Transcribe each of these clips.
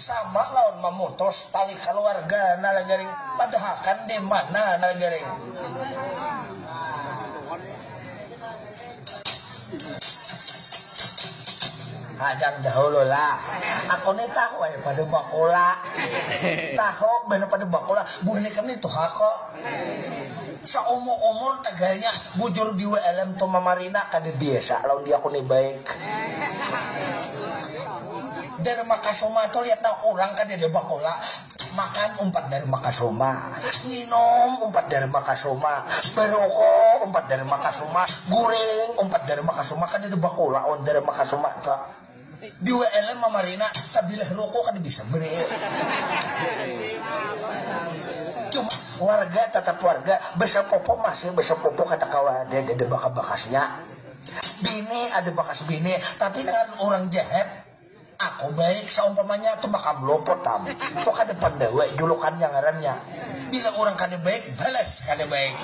Sama lawan mamutus tali kaluarga nah lah jaring, padahakan dimana nah lah jaring. Hajang dahulu lah, aku ni tahu ai pada bakula, tahu banar pada bakula, buhan ikam ni tuha ko. Saumur umur tagalnya bujur di wlm tu mamarina kada biasa lawan dia kuni baik Dharma kasuma tu lihat nang urang kadada bakola makan umpat Dharma kasuma nginum umpat Dharma kasuma baroko umpat Dharma kasuma guring umpat Dharma kasuma kadada bakola wan Dharma kasuma tu. Di wlm mamarina sabilah ruko kada bisa beriu. Cuma warga tatap warga besepupu masih besepupu kada kawa ada ada bakas bakasnya. Bini ada bakas bini tapi dengan urang jahat aku baik saumpamanya tumakam luput pang tu kada pandawa julukannya ngarannya bila urang kada baik balas kada baik.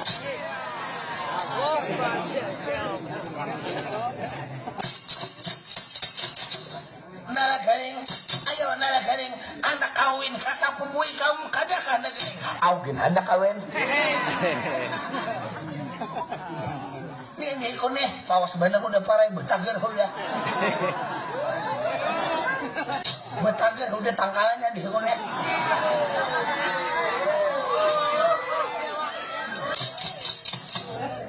Nara garing, ayo nara garing, anak kawin ka sapupu ikam kada kah nara garing, au gin handak kawin. Nini ku nih lawas banar hudah parai betager hudah. Betager hudah tangkalan nya dih ku nih.